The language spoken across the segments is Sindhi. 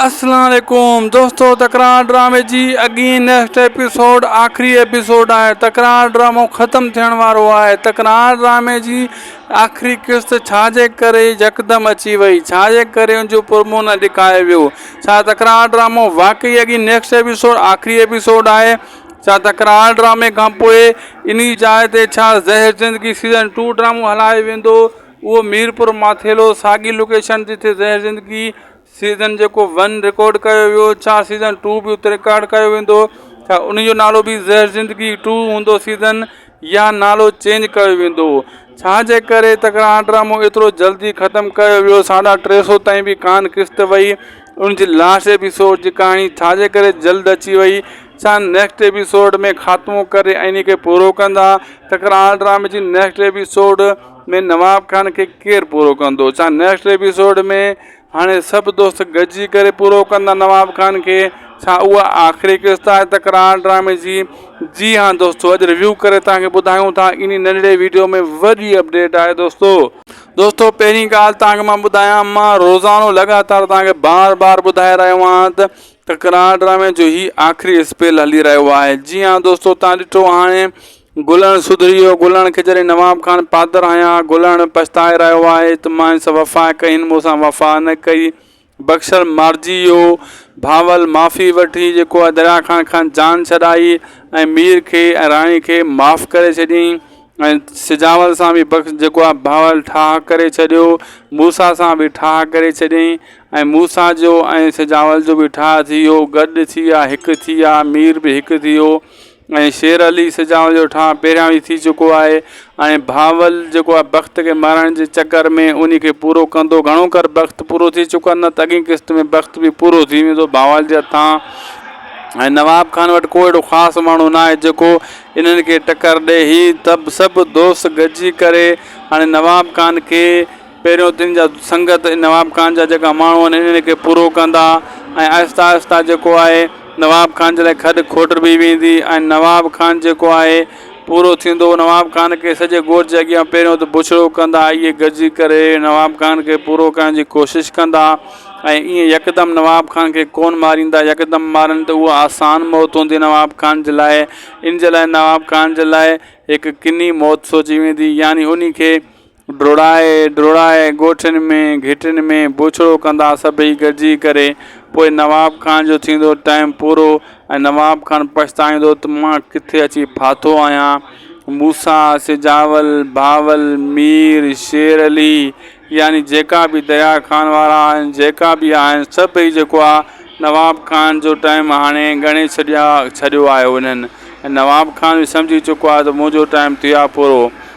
اسلام عليڪم دوستو تڪرار ڊرامي جي اڳين نيڪسٽ ايپيسوڊ آخري ايپيسوڊ آهي تڪرار ڊرامو ختم ٿيڻ وارو آهي تڪرار ڊرامي جي آخري قسط ڇا جي ڪري يڪدم اچي وئي ڇا جي ڪري ان جو پرمو نه ڏيکايو ويو ڇا تڪرار ڊرامو واقعي اڳين نيڪسٽ ايپيسوڊ آخري ايپيسوڊ آهي ڇا تڪرار ڊرامي کان پوء انهي جاء تي ڇا زهر زندگي سيزن ٽو ڊرامو هلايو ويندو اهو ميرپور ماٿيلو ساڳي لوڪيشن جتي زهر زندگي سيزن جيڪو ون رڪارڊ ڪيو ويو ڇا سيزن ٽو به اتي رڪارڊ ڪيو ويندو ڇا ان جو نالو به زهر زندگي ٽو هوندو سيزن يا نالو چينج ڪيو ويندو ڇا جي ڪري تڪرار ڊرامو ايترو جلدي ختم ڪيو ويو ساڍا ٽي سو تائين به ڪان قسط وئي ان جي لاسٽ ايپيسوڊ جي ڪهاڻي ڇا جي ڪري جلد اچي وئي ڇا نيڪسٽ ايپيسوڊ ۾ خاتمو ڪري ۽ ان کي پورو ڪندا تڪرار ڊرامي جي نيڪسٽ ايپيسوڊ ۾ نواب خان کي ڪير پورو ڪندو ڇا نيڪسٽ ايپيسوڊ ۾ هاڻي سڀ دوست گڏجي ڪري پورو ڪندا نواب خان کي ڇا اها آخري قسط آهي تڪرار ڊرامي جي جي ها دوستو اڄ ريويو ڪري توهان کي ٻڌايون ٿا انهي ننڍڙي ويڊيو ۾ وڏي اپڊيٽ آهي دوستو دوستو پهرين ڳالهه توهان کي مان ٻڌايان مان روزانو لڳاتار توهان کي بار بار ٻڌائي رهيو آهيان ته تڪرار ڊرامي جو هي آخري اسپيل هلي رهيو آهي جي ها دوستو توهان ڏٺو هاڻي گلڻ سڌريو، گلڻ کي جڏهن نواب خان پادر آيا، گلڻ پڇتائي رهيو آهي ته مان سان وفا ڪئي، هن مون سان وفا نه ڪئي. بخشڻ مارجي ويو. بهاول معافي وٺي جيڪو آهي دريا خان کان جان ڇڏائي ۽ مير کي ۽ راڻي کي معاف ڪري ڇڏيائين ۽ سجاول سان به بخش جيڪو آهي بهاول ٺاهه ڪري ڇڏيو. موسيٰ سان به ٺاهه ڪري ڇڏيائين ۽ موسيٰ جو ۽ سجاول جو به ٺاهه ٿي ويو. گڏ ٿي ويا، هڪ ٿي ويا، مير به هڪ ٿي ويو. ۽ شير علي سجاو جو ٺاهه پهريان ئي ٿي چڪو آهي ۽ بهاول جيڪو آهي بخت کي مارڻ جي چڪر ۾ انهي کي پورو ڪندو گهڻو ڪر بخت پورو ٿي چڪو آهي نه ته اڳين قسط ۾ بخت به پورو ٿي ويندو بهاول جي هٿان ۽ نواب خان وٽ ڪو اهڙو خاص ماڻهو نه آهي جيڪو انهن کي ٽڪر ڏئي هي تب سڀ دوست گڏجي ڪري هاڻي نواب خان کي پهريون تن جا سنگت نواب خان جا جيڪا ماڻهو آهن انهن کي پورو ڪندا ۽ آهستي آهستي جيڪو آهي نواب خان جي لاء کڏ کوٽبي ويندي ۽ نواب خان جيڪو آهي پورو ٿيندو نواب خان کي سڄي ڳوٺ جي اڳيان پهريون ته بڇڙو ڪندا اهي گڏجي ڪري نواب خان کي پورو ڪرڻ جي ڪوشش ڪندا ۽ ايئن يڪدم نواب خان کي ڪونه ماريندا يڪدم مارن ته اها آسان موت هوندي نواب خان جي لاء ان جي لاء نواب خان جي لاء هڪ ڪني موت سوچي ويندي يعني انهي کي ڊوڙائي ڊوڙائي ڳوٺن ۾ گهٽين ۾ بوڇڙو ڪندا سڀئي گڏجي ڪري پوء نواب خان جو ٿيندو ٽائيم پورو ۽ نواب خان پڇتائيندو ته مان ڪٿي اچي ڦاٿو آهيان موسيٰ سجاول بهاول مير شير علي يعني جيڪا به دريا خان وارا آهن جيڪا به آهن سڀئي جيڪو آهي نواب خان جو ٽائيم هاڻي ڳڻي ڇڏيا ڇڏيو آهي انهن ۽ نواب خان به سمجهي چڪو آهي ته منهنجو ٽائيم ٿيو آهي پورو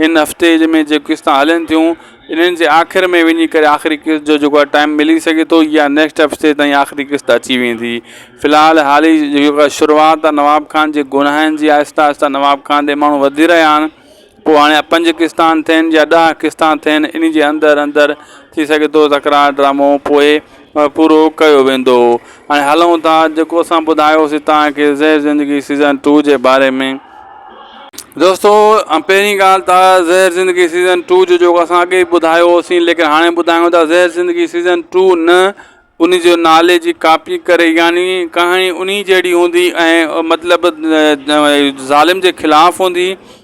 هن هفتي ۾ جيڪي قسطون هلين ٿيون انهن جي آخر ۾ وڃي ڪري آخري قسط جو جيڪو آهي ٽائيم ملي سگهي ٿو يا نيڪسٽ هفتي تائين آخري قسط اچي ويندي في الحال حالي جيڪا شروعات آهي نواب خان جي گناهن جي آهسته آهسته نواب خان ڏي ماڻهو وڌي رهيا آهن پوء هاڻي پنج قسطا ٿين يا ڏهه قسطا ٿين ان جي اندر اندر ٿي سگهي ٿو تڪرار ڊرامو پوء پورو ڪيو ويندو هاڻي هلون ٿا جيڪو اسان ٻڌايوسي توهان کي زهر زندگي سيزن ٽو جي باري ۾ دوستو پهرين ڳالهه ته زهر زندگي سيزن ٽو جو جيڪو اسان اڳي ٻڌايو هوسين ليڪن هاڻي ٻڌايون ٿا زهر زندگي سيزن ٽو نه ان جو نالي جي ڪاپي ڪري يعني ڪهاڻي انهي جهڙي هوندي ۽ مطلب ظالم جي خلاف هوندي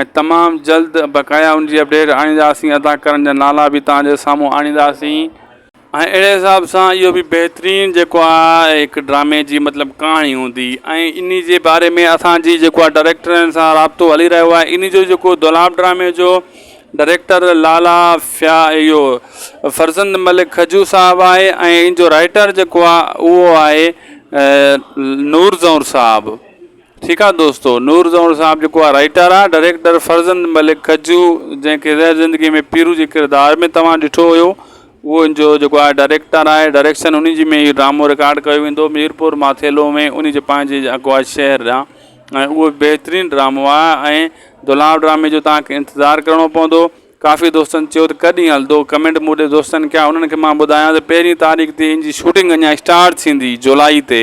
۽ تمام جلد بقايا ان جي اپڊيٽ آڻينداسين ادا ڪرڻ جا نالا به توهان جي سامهون آڻينداسين ۽ اهڙي حساب سان اهو به بهترين جيڪو آهي هڪ ڊرامي جي مطلب ڪهاڻي هوندي ۽ انهي جي باري ۾ اسان جي جيڪو آهي ڊائريڪٽرن سان رابطو هلي رهيو آهي انهي جو جيڪو دولاب ڊرامي جو ڊائريڪٽر لالا فيا اهو فرزند ملڪ کجو صاحب آهي ۽ ان جو رائيٽر جيڪو آهي اهو آهي نور زئور صاحب ٺيڪ آ دوستو. نور زهور صاحب جيڪو آ رائيٽر آ، ڊريڪٽر فرزند ملڪ ڪجو جنهن کي زهر زندگي ۾ پيرو جي ڪردار ۾ توهان ڏٺو هيو اهو ان جو جيڪو آ ڊريڪٽر آهي ڊريڪشن انهي جي ۾ اهو ڊرامو رڪارڊ ڪيو ويندو ميرپور ماٿيلو ۾ انهي جي پنهنجي جيڪو آ شهر ڏانهن ۽ اهو بهترين ڊرامو آ ۽ دولاب ڊرامي جو توهان کي انتظار ڪرڻو پوندو ڪافي دوستن چيو ته ڪڏهن هلندو ڪمينٽ مون ڏي دوستن ڪيا انهن کي مان ٻڌايان ته پهرين تاريخ تي ان جي شوٽنگ اڃان اسٽارٽ ٿيندي جولائي تي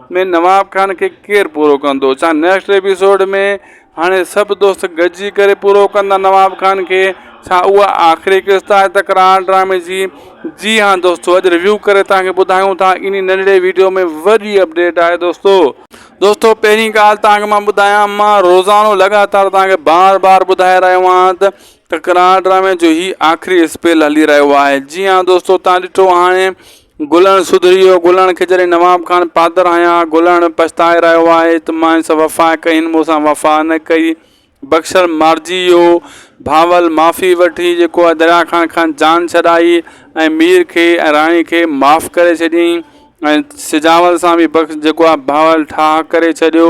۾ نواب خان کي ڪير پورو ڪندو چا نيڪسٽ ايپيسوڊ ۾ هاڻي سڀ دوست گڏجي ڪري پورو ڪندا نواب خان کي ڇا اها آخري قسط آهي تڪرار ڊرامي جي جي ها دوستو اڄ ريويو ڪري تان کي ٻڌايون ٿا اني ننڍڙي ويڊيو ۾ وڏي اپڊيٽ آهي دوستو دوستو پهرين ڳالهه تان کي مان ٻڌايان مان روزانو لڳاتار تان کي بار بار ٻڌائي رهيو آهيان ته تڪرار ڊرامي جو هي آخري اسپيل هلي رهيو آهي جي ها دوستو تان ڏٺو هاڻي گلڻ سڌريو، گلڻ کي جڏهن نواب خان پادر آيا، گلڻ پڇتائي رهيو آهي ته مان سان وفا ڪئي، هن مون سان وفا نه ڪئي. بخشڻ مارجي ويو. بهاول معافي وٺي جيڪو آهي دريا خان کان جان ڇڏائي ۽ مير کي ۽ راڻي کي معاف ڪري ڇڏيائين ۽ سجاول سان به بخش جيڪو آهي بهاول ٺاهه ڪري ڇڏيو.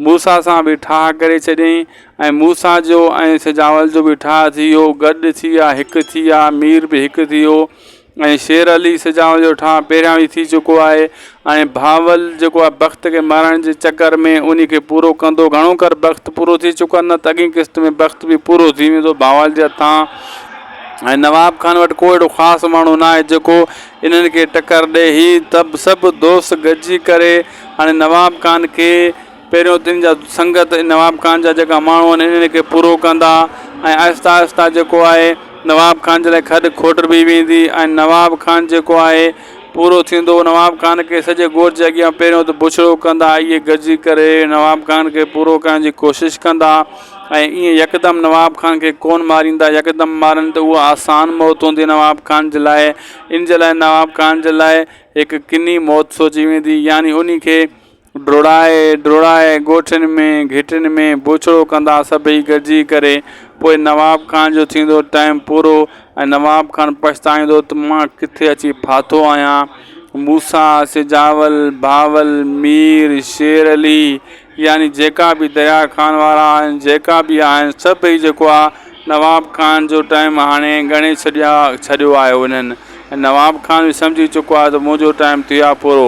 موسيٰ سان به ٺاهه ڪري ڇڏيائين ۽ موسيٰ جو ۽ سجاول جو به ٺاهه ٿي ويو. گڏ ٿي ويا، هڪ ٿي ويا، مير به هڪ ٿي ويو. ۽ شير علي سجاو جو ٺاهه پهريان ئي ٿي چڪو آهي ۽ بهاول جيڪو آهي بخت کي مارڻ جي چڪر ۾ انهي کي پورو ڪندو گهڻو ڪر بخت پورو ٿي چڪو آهي نه ته اڳين قسط ۾ بخت به پورو ٿي ويندو بهاول جي هٿان ۽ نواب خان وٽ ڪو اهڙو خاص ماڻهو نه آهي جيڪو انهن کي ٽڪر ڏئي هي تب سڀ دوست گڏجي ڪري هاڻي نواب خان کي پهريون تن جا سنگت نواب خان جا جيڪا ماڻهو آهن انهن کي پورو ڪندا ۽ آهستي آهستي جيڪو آهي نواب خان جي لاء کڏ کوٽ به ويندي ۽ نواب خان جيڪو آهي پورو ٿيندو نواب خان کي سڄي ڳوٺ جي اڳيان پهريون ته بڇڙو ڪندا اهي گڏجي ڪري نواب خان کي پورو ڪرڻ جي ڪوشش ڪندا ۽ ايئن يڪدم نواب خان کي ڪونه ماريندا يڪدم مارن ته اها آسان موت هوندي نواب خان جي لاء ان جي لاء نواب خان جي لاء هڪ ڪني موت سوچي ويندي يعني انهي کي ڊوڙائي ڊوڙائي ڳوٺين ۾ گهٽين ۾ بوڇڙو ڪندا سڀئي گڏجي ڪري پوء نواب خان جو ٿيندو ٽائيم پورو ۽ نواب خان پڇتائيندو ته مان ڪٿي اچي ڦاٿو آهيان موسيٰ سجاول بهاول مير شير علي يعني جيڪا به دريا خان وارا آهن جيڪا به آهن سڀئي جيڪو آهي نواب خان جو ٽائيم هاڻي ڳڻي ڇڏيا ڇڏيو آهي انهن ۽ نواب خان به سمجهي چڪو آهي ته منهنجو ٽائيم ٿيو آهي پورو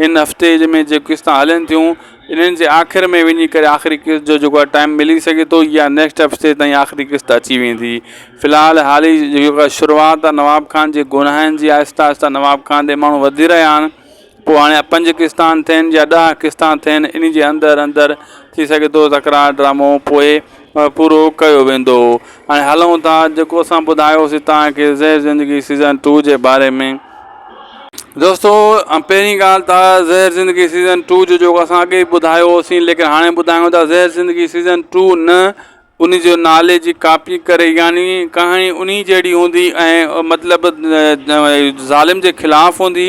هن هفتي ۾ جيڪي قسطون هلن ٿيون انهن جي آخر ۾ وڃي ڪري آخري قسط جو جيڪو آهي ٽائيم ملي سگهي ٿو يا نيڪسٽ هفتي تائين آخري قسط اچي ويندي في الحال حالي جيڪا شروعات آهي نواب خان جي گناهن جي آهسته آهسته نواب خان ڏي ماڻهو وڌي رهيا آهن پوء هاڻي پنج قسطا ٿين يا ڏهه قسطا ٿين ان جي اندر اندر ٿي سگهي ٿو تڪرار ڊرامو پوء پورو ڪيو ويندو هاڻي هلون ٿا جيڪو اسان ٻڌايو سي توهان کي زهر زندگي سيزن ٽو جي باري ۾ دوستو پهرين ڳالهه ته زهر زندگي سيزن ٽو جو جيڪو اسان اڳي ٻڌايو هوسين ليڪن هاڻي ٻڌايون ٿا زهر زندگي سيزن ٽو نه ان جو نالي جي ڪاپي ڪري يعني ڪهاڻي انهي جهڙي هوندي ۽ مطلب ظالم جي خلاف هوندي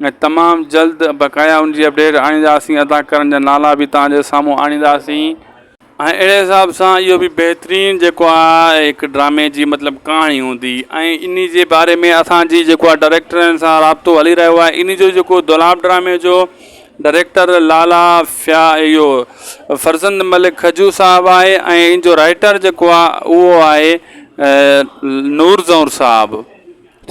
۽ تمام جلد بقايا ان جي اپڊيٽ آڻينداسين ادا ڪرڻ جا نالا به توهان جي سامهون آڻينداسين. ۽ اهڙي حساب سان اهو به بهترين جيڪو آ هڪ ڊرامي جي مطلب ڪهاڻي هوندي ۽ انهي جي باري ۾ اسان جي جيڪو آ ڊريڪٽرن سان رابطو هلي رهيو آهي انهي جو جيڪو دولاب ڊرامي جو ڊريڪٽر لالا فيا اهو فرزند ملڪ کجو صاحب آهي ۽ ان جو رائيٽر جيڪو آ اهو آهي نور زئور صاحب.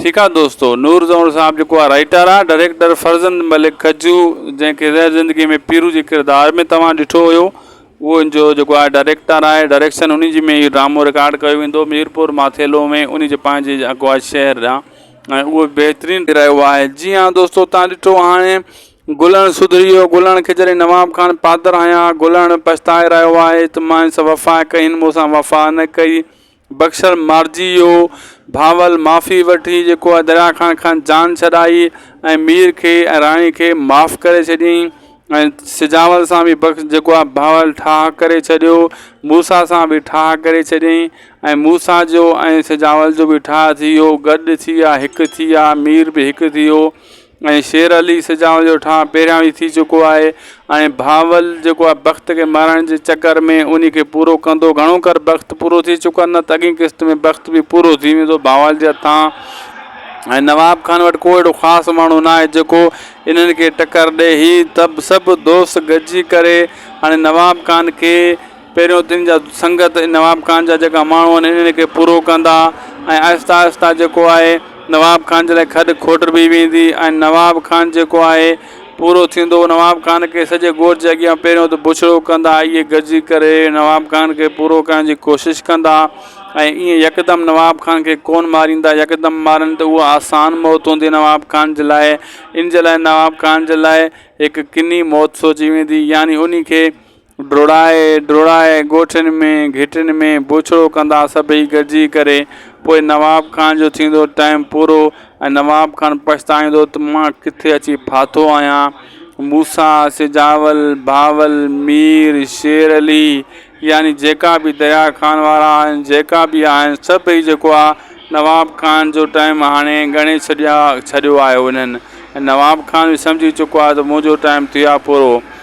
ٺيڪ آ دوستو. نور زهور صاحب جيڪو آ رائيٽر آ ڊريڪٽر فرزند ملڪ ڪجو جنهن کي زهر زندگي ۾ پيرو جي ڪردار ۾ توهان ڏٺو هيو اهو ان جو جيڪو آ ڊريڪٽر آهي ڊريڪشن انهي جي ۾ اهو ڊرامو رڪارڊ ڪيو ويندو ميرپور ماٿيلو ۾ انهي جي پنهنجي جيڪو آ شهر جا ۽ اهو بهترين رهيو آهي جي ها دوستو توهان ڏٺو هاڻي گلڻ سڌري ويو گلڻ کي جڏهن نواب خان پادر هنيا گلڻ پڇتائي رهيو آهي ته مانس وفا ڪئي هن مون سان وفا نه ڪئي بخشڻ مارجي ويو. ڀانول معافي وٺي جيڪو آهي دريا خان کان جان ڇڏائي ۽ مير کي ۽ راڻي کي معاف ڪري ڇڏيائين ۽ سجاول سان به بخش جيڪو آهي ڀانول ٺاهه ڪري ڇڏيو. موسيٰ سان به ٺاهه ڪري ڇڏيائين ۽ موسيٰ جو ۽ سجاول جو به ٺاهه ٿي ويو. گڏ ٿي ويا هڪ ٿي ويا مير به هڪ ٿي ويو. ۽ شير علي سجاو جو ٺاهه پهريان ئي ٿي چڪو آهي ۽ بهاول جيڪو آهي بخت کي مارائڻ جي چڪر ۾ انهي کي پورو ڪندو گهڻو ڪر بخت پورو ٿي چڪو آهي نه ته اڳين قسط ۾ بخت به پورو ٿي ويندو بهاول جي هٿان ۽ نواب خان وٽ ڪو اهڙو خاص ماڻهو نه آهي جيڪو انهن کي ٽڪر ڏئي هي تب سڀ دوست گڏجي ڪري هاڻي نواب خان کي پهريون تن جا سنگت نواب خان جا جيڪا ماڻهو آهن انهن کي پورو ڪندا ۽ آهستي آهستي جيڪو آهي نواب خان جي لاء کڏ کوٽ به ويندي ۽ نواب خان جيڪو آهي پورو ٿيندو نواب خان کي سڄي ڳوٺ جي اڳيان پهريون ته بڇڙو ڪندا اهي گڏجي ڪري نواب خان کي پورو ڪرڻ جي ڪوشش ڪندا ۽ ايئن يڪدم نواب خان کي ڪونه ماريندا يڪدم مارن ته اها آسان موت هوندي نواب خان جي لاء ان جي لاء نواب خان جي لاء هڪ ڪني موت سوچي ويندي يعني ان کي ڊوڙائي ڊوڙائي ڳوٺين ۾ گهٽين ۾ بوڇڙو ڪندا سڀئي گڏجي ڪري پوء نواب خان جو ٿيندو ٽائيم پورو ۽ نواب خان پڇتائيندو ته مان ڪٿي اچي ڦاٿو آهيان موسيٰ سجاول بهاول مير شير علي يعني جيڪا به دريا خان وارا آهن جيڪا به آهن سڀئي جيڪو آهي نواب خان جو ٽائيم هاڻي ڳڻي ڇڏيا ڇڏيو آهي انهن ۽ نواب خان به سمجهي چڪو آهي ته منهنجو ٽائيم ٿيو آهي پورو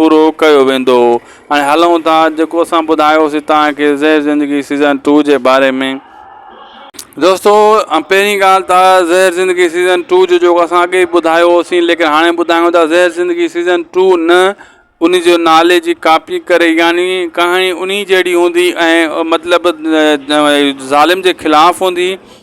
پورو ڪيو ويندو هاڻي هلون ٿا جيڪو اسان ٻڌايوسي توهان کي زهر زندگي سيزن ٽو جي باري ۾ دوستو پهرين ڳالهه ته زهر زندگي سيزن ٽو جو جيڪو اسان اڳي ٻڌايو هوسين ليڪن هاڻي ٻڌايون ٿا زهر زندگي سيزن ٽو نه ان جو نالي جي ڪاپي ڪري يعني ڪهاڻي انهي جهڙي هوندي ۽ مطلب ظالم جي خلاف هوندي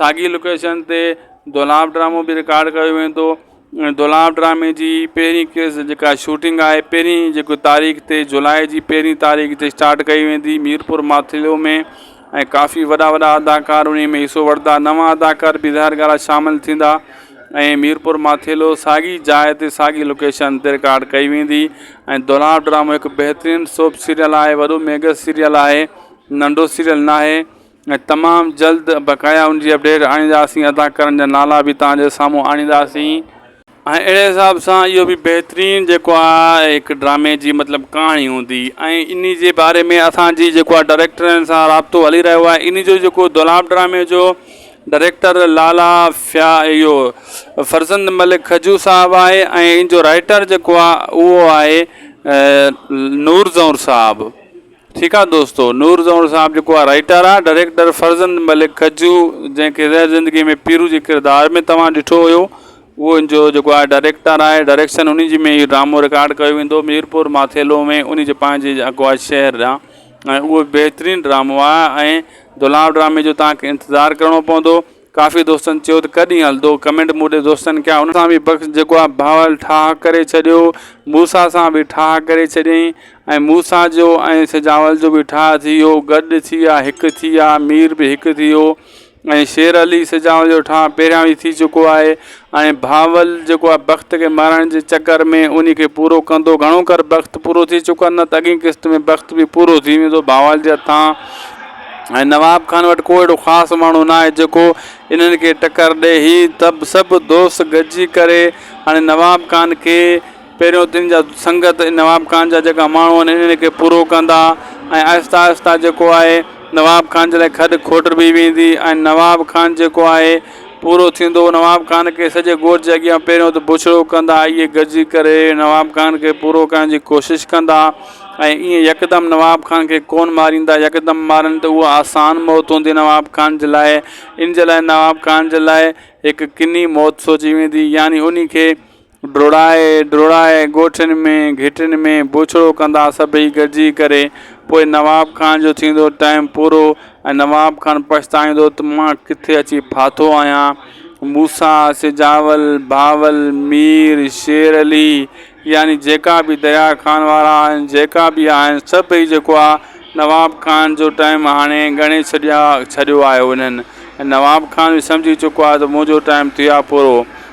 ساڳي لوڪيشن تي دولاب ڊرامو به رڪارڊ ڪيو ويندو ۽ دولاب ڊرامي جي پهرين ڪيس جيڪا شوٽنگ آهي پهرين جيڪو تاريخ تي جولاء جي پهرين تاريخ تي اسٽارٽ ڪئي ويندي ميرپور ماٿيلو ۾ ۽ ڪافي وڏا وڏا اداڪار انهي ۾ حصو وٺندا نوان اداڪار به ظاهر ڳالهه آهي شامل ٿيندا ۽ ميرپور ماٿيلو ساڳي جاء تي ساڳي لوڪيشن تي رڪارڊ ڪئي ويندي ۽ دولاب ڊرامو هڪ بهترين سوپ سيريل آهي وڏو ميگا سيريل آهي ننڍو سيريل ناهي ۽ تمام جلد بقايا ان جي اپڊيٽ آڻينداسين ادا ڪرڻ جا نالا به توهان جي سامهون آڻينداسين ۽ اهڙي حساب سان اهو به بهترين جيڪو آهي هڪ ڊرامي جي مطلب ڪهاڻي هوندي ۽ انهي جي باري ۾ اسان جي جيڪو آهي ڊائريڪٽرن سان رابطو هلي رهيو آهي انهي جو جيڪو دولاب ڊرامي جو ڊائريڪٽر لالا فيا اهو فرزند ملڪ کجو صاحب آهي ۽ ان جو رائيٽر جيڪو آهي اهو آهي نور زئور صاحب ٺيڪ آ دوستو نور زئون صاحب جيڪو آ رائيٽر آ ڊريڪٽر فرزند ملڪ ڪجو جنهن کي زهر زندگي ۾ پيرو جي ڪردار ۾ توهان ڏٺو هيو اهو ان جو جيڪو آ ڊريڪٽر آهي ڊريڪشن انهي جي ۾ اهو ڊرامو رڪارڊ ڪيو ويندو ميرپور ماٿيلو ۾ انهي جي پنهنجي جيڪو آ شهر ڏانهن ۽ اهو بهترين ڊرامو آ ۽ دولاب ڊرامي جو توهان کي انتظار ڪرڻو پوندو. ڪافي دوستن چيو ته ڪڏھن ھلندو ڪمينٽ مون ڏي دوستن ڪيا ان سان به بخش جيڪو آ بھاول ٺاھه ڪري ڇڏيو موسيٰ سان به ٺاھه ڪري ڇڏيئين ۽ موسيٰ جو ۽ سجاول جو به ٺاھه ٿي ويو گڏ ٿي آ ھڪ ٿي آ مير به ھڪ ٿي ويو ۽ شير علي سجاول جو ٺاھه پهريان ئي ٿي چڪو آھي ۽ بھاول جيڪو آ بخت کي مارڻ جي چڪر ۾ انھي کي پورو ڪندو گھڻو ڪر بخت پورو ٿي چڪو آ نه ته اڳين قسط ۾ بخت به پورو ٿي ويندو بھاول جي ھٿان ۽ نواب خان وٽ ڪو اھڙو خاص ماڻھو ناھي جيڪو انھن کي ٽڪر ڏئي ھي تب سڀ دوست گڏجي ڪري ھاڻي نواب خان کي پهريون تن جا سنگت نواب خان جا جيڪا ماڻهو آهن انهن کي پورو ڪندا ۽ آهستي آهستي جيڪو آهي نواب خان جي لاء کڏ کوٽبي ويندي ۽ نواب خان جيڪو آهي پورو ٿيندو نواب خان کي سڄي ڳوٺ جي اڳيان پهريون ته بڇڙو ڪندا اهي گڏجي ڪري نواب خان کي پورو ڪرڻ جي ڪوشش ڪندا ۽ ايئن يڪدم نواب خان کي ڪونه ماريندا يڪدم مارن ته اها آسان موت هوندي نواب خان جي لاء ان جي لاء نواب خان جي لاء هڪ ڪني موت سوچي ويندي يعني انهي کي ڊوڙائي ڊوڙائي ڳوٺين ۾ گهٽين ۾ بوڇڙو ڪندا سڀئي گڏجي ڪري پوء نواب خان جو ٿيندو ٽائيم پورو ۽ نواب خان پڇتائيندو ته مان ڪٿي اچي ڦاٿو آهيان موسيٰ سجاول بهاول مير شير علي يعني جيڪا به دريا خان وارا آهن جيڪا به آهن سڀئي جيڪو آهي نواب خان جو ٽائيم هاڻي ڳڻي ڇڏيا ڇڏيو آهي انهن ۽ نواب خان به سمجهي چڪو آهي ته منهنجو ٽائيم ٿيو آهي پورو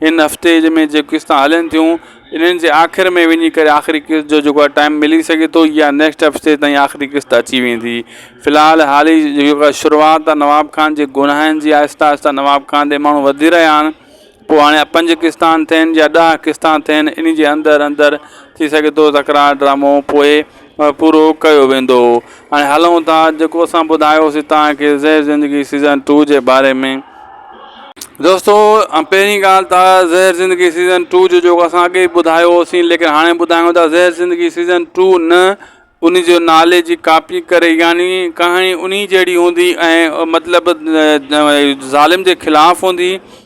هن هفتي ۾ جيڪي قسطون هلن ٿيون انهن جي آخر ۾ وڃي ڪري آخري قسط جو جيڪو آهي ٽائيم ملي سگهي ٿو يا نيڪسٽ هفتي تائين آخري قسط اچي ويندي في الحال حالي جيڪا شروعات آهي نواب خان جي گناهن جي آهسته آهسته نواب خان ڏي ماڻهو وڌي رهيا آهن پوء هاڻي پنج قسطا ٿين يا ڏهه قسطا ٿين ان جي اندر اندر ٿي سگهي ٿو تڪرار ڊرامو پوء پورو ڪيو ويندو هاڻي هلون ٿا جيڪو اسان ٻڌايوسي توهان کي زهر زندگي سيزن ٽو جي باري ۾ دوستو پهرين ڳالهه ته زهر زندگي سيزن ٽو جو جيڪو اسان اڳي ٻڌايو هوسين ليڪن هاڻي ٻڌايون ٿا زهر زندگي سيزن ٽو نه ان جو نالي جي ڪاپي ڪري يعني ڪهاڻي انهي جهڙي هوندي ۽ مطلب ظالم جي خلاف هوندي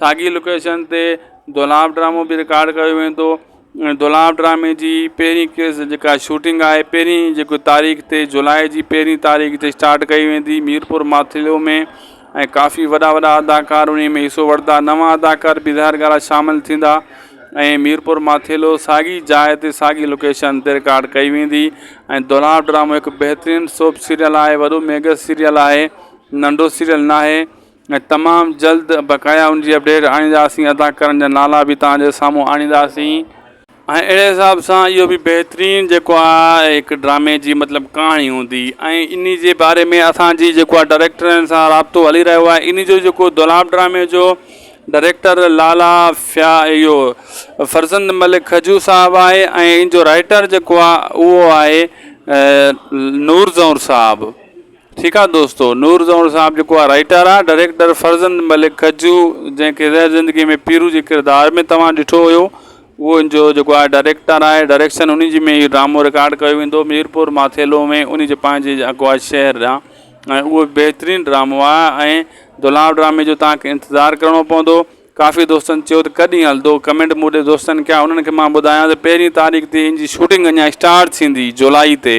ساڳي لوڪيشن تي دولاب ڊرامو به رڪارڊ ڪيو ويندو ۽ دولاب ڊرامي جي پهرين ڪيس جيڪا شوٽنگ آهي پهرين جيڪو تاريخ تي جولاء جي پهرين تاريخ تي اسٽارٽ ڪئي ويندي ميرپور ماٿيلو ۾ ۽ ڪافي وڏا وڏا اداڪار انهي ۾ حصو وٺندا نوان اداڪار به ظاهر ڳالهه آهي شامل ٿيندا ۽ ميرپور ماٿيلو ساڳي جاء تي ساڳي لوڪيشن تي رڪارڊ ڪئي ويندي ۽ دولاب ڊرامو هڪ بهترين سوپ سيريل آهي وڏو ميگا سيريل آهي ننڍو سيريل ناهي ۽ تمام جلد بقايا ان جي اپڊيٽ آڻينداسين ادا ڪرڻ جا نالا به توهان جي سامهون آڻينداسين. ۽ اهڙي حساب سان اهو به بهترين جيڪو آ هڪ ڊرامي جي مطلب ڪهاڻي هوندي ۽ انهي جي باري ۾ اسان جي جيڪو آ ڊريڪٽرن سان رابطو هلي رهيو آهي انهي جو جيڪو دولاب ڊرامي جو ڊريڪٽر لالا فيا اهو فرزند ملڪ کجو صاحب آهي ۽ ان جو رائيٽر جيڪو آ اهو آهي نور زئور صاحب. ٺيڪ آ دوستو نور زئونڙ صاحب جيڪو آ رائيٽر آ ڊريڪٽر فرزند ملڪ گجو جنهن کي زهر زندگي ۾ پيرو جي ڪردار ۾ توهان ڏٺو هيو اهو ان جو جيڪو آ ڊريڪٽر آهي ڊريڪشن انهي جي ۾ اهو ڊرامو رڪارڊ ڪيو ويندو ميرپور ماٿيلو ۾ انهي جي پنهنجي جيڪو آ شهر آ ۽ اهو بهترين ڊرامو آ ۽ دولاب ڊرامي جو توهان کي انتظار ڪرڻو پوندو ڪافي دوستن چيو ته ڪڏهن هلندو ڪمينٽ مون ڏي دوستن ڪيا انهن کي مان ٻڌايان ته پهرين تاريخ تي ان جي شوٽنگ اڃان اسٽارٽ ٿيندي جولائي تي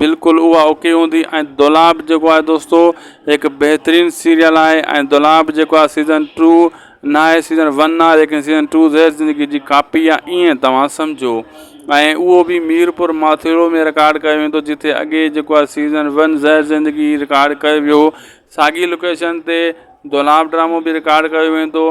بلڪل اها اوڪي هوندي ۽ دولاب جيڪو آهي دوستو هڪ بهترين سيريل آهي ۽ دولاب جيڪو آهي سيزن ٽو ناهي سيزن ون آهي ليڪن سيزن ٽو زهر زندگي جي ڪاپي آهي ائين توهان سمجهو ۽ اهو به ميرپور ماٿيرو ۾ رڪارڊ ڪيو ويندو جتي اڳي جيڪو آهي سيزن ون زهر زندگي رڪارڊ ڪيو ويو ساڳي لوڪيشن تي دولاب ڊرامو بي رڪارڊ ڪيو ويندو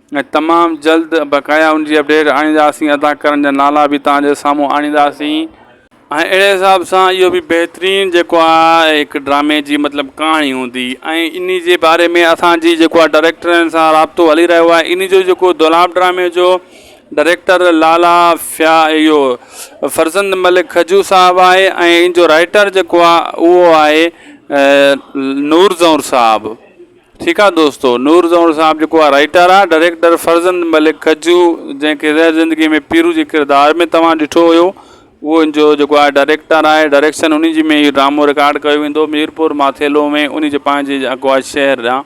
۽ تمام جلد بقايا ان جي اپڊيٽ آڻينداسين ادا ڪرڻ جا نالا به توهان جي سامهون آڻينداسين ۽ اهڙي حساب سان اهو به بهترين جيڪو آ هڪ ڊرامي جي مطلب ڪهاڻي هوندي ۽ انهي جي باري ۾ اسان جي جيڪو آ ڊريڪٽرن سان رابطو هلي رهيو آهي انهي جو جيڪو دولاب ڊرامي جو ڊريڪٽر لالا فيا اهو فرزند ملڪ کجو صاحب آهي ۽ ان جو رائيٽر جيڪو آ اهو آهي نور زئور صاحب ٺيڪ آ دوستو نور زئون صاحب جيڪو آ رائيٽر آ ڊريڪٽر فرزند ملڪ ڪجو جنهن کي زهر زندگي ۾ پيرو جي ڪردار ۾ توهان ڏٺو هيو اهو ان جو جيڪو آ ڊريڪٽر آهي ڊريڪشن انهي جي ۾ اهو ڊرامو رڪارڊ ڪيو ويندو ميرپور ماٿيلو ۾ انهي جي پنهنجي جيڪو آ شهر آ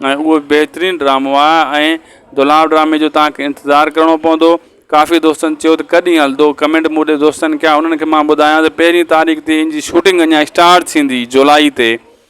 ۽ اهو بهترين ڊرامو آ ۽ دولاب ڊرامي جو توهان کي انتظار ڪرڻو پوندو ڪافي دوستن چيو ته ڪڏهن هلندو ڪمينٽ مون ڏي دوستن ڪيا انهن کي مان ٻڌايان ته پهرين تاريخ تي ان جي شوٽنگ اڃا اسٽارٽ ٿيندي جولائي تي